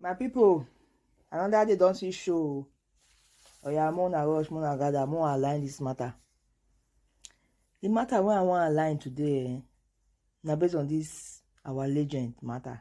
my people another day don see show oya more na rush more na gather more align this matter the matter wey i wan align today eh, na based on this our legend matter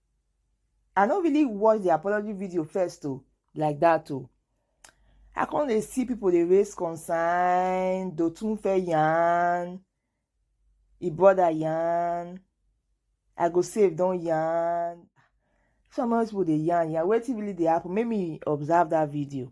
i no really watch the apology video first o like that o i come dey see people dey raise concern dotun fẹ́ yarn e brother yarn i go save don yarn some of those people dey yarn yarn wetin really dey happen make me observe that video.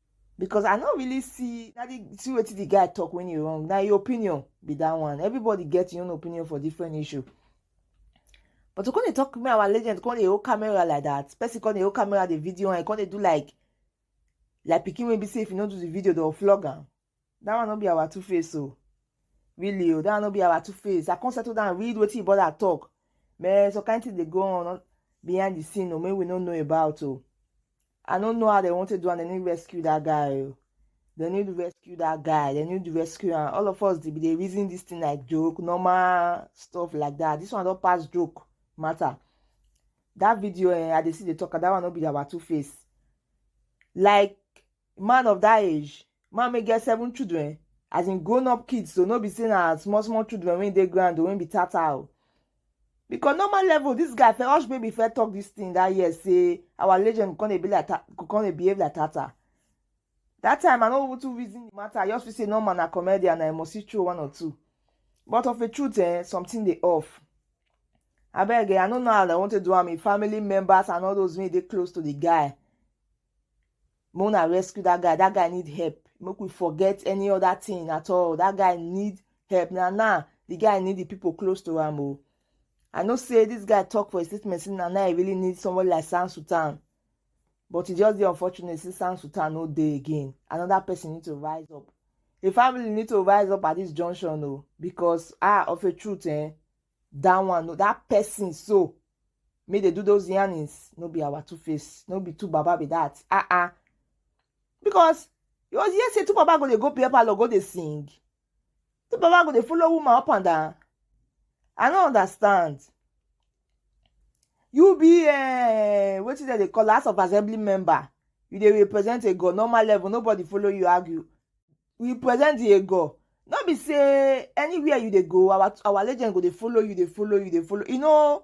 because i no really see na the see wetin the guy talk when he wrong na your opinion be that one everybody get your own opinion for different issue but to come dey talk me our legend come dey hold camera like that person come dey hold camera the video and come dey do like like pikin wey be say if you no do the video dem go flog am that one no be our two face o really o that one no be our two face i come settle down read wetin brother talk man some kind thing dey go on behind the scene o wey we no know about o i no know how dem wan take do am dem need rescue that guy o dem need rescue that guy dem need rescue am all of us dey dey reason this thing like joke normal stuff like that this one don pass joke matter that video eh, i dey see dey talk that one no be our two face like man of that age man wey get seven children as in grown up kids so no be say na small small children wey dey ground o wey be tata o because normal level this guy fẹ hush baby fẹ talk this thing that year say our legend come dey be like ta come dey behave like tata that time i no even too reason the matter i just feel say normal na comedian na i must see throw one or two but of a truth eh something dey off abeg eh i no know how i want to do am if family members and all those wey dey close to the guy make una rescue that guy that guy need help make we forget any other thing at all that guy need help na now the guy need the people close to am o oh. i know say this guy talk for his statement say na now he really need somebody like sam sultan but e just dey unfortunate say sam sultan no dey again another person need to rise up the family need to rise up at this junction o oh, because ah of a truth eh that one no that person so make they do those yarnings no be our two face no be two baba be that ah uh ah -uh. because you was here say two baba go dey go beer parlor go dey sing two baba go dey follow woman up and down i no understand you be uh, eh, wetin dem dey call house of assembly member you dey represent a god normal level nobody follow you argue we present the ego no be say anywhere you dey go our our legend go dey follow you dey follow you dey follow e no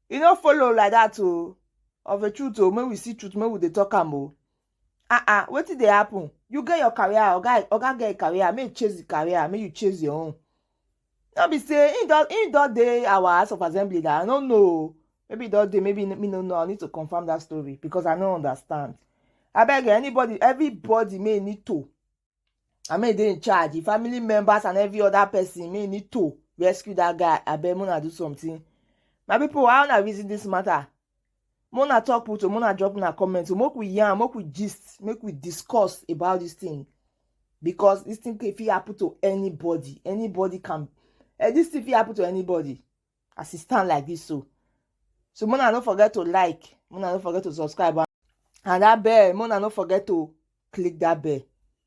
e no follow like that o oh. of a truth o oh, make we see truth make we dey talk am o oh. ah ah wetin dey happen you get your career oga oga get your career make you chase the career make you chase your own No be say he don he don dey our house of assembly that I no know. Maybe don dey, maybe me no know. I need to confirm that story because I no understand. I beg anybody, everybody may need to. I may dey in charge. The family members and every other person may need to rescue that guy. I beg Mona do something. My people, how na reason this matter? Mona talk put o, Mona drop na comment o, make we yarn, make we gist, make we discuss about this thing because this thing can fit happen to anybody, anybody can, eh, this thing fit happen to anybody as e stand like this so. So Mona no forget to like, Mona no forget to subscribe and that bell, Mona no forget to click that bell.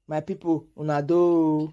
My people, una do.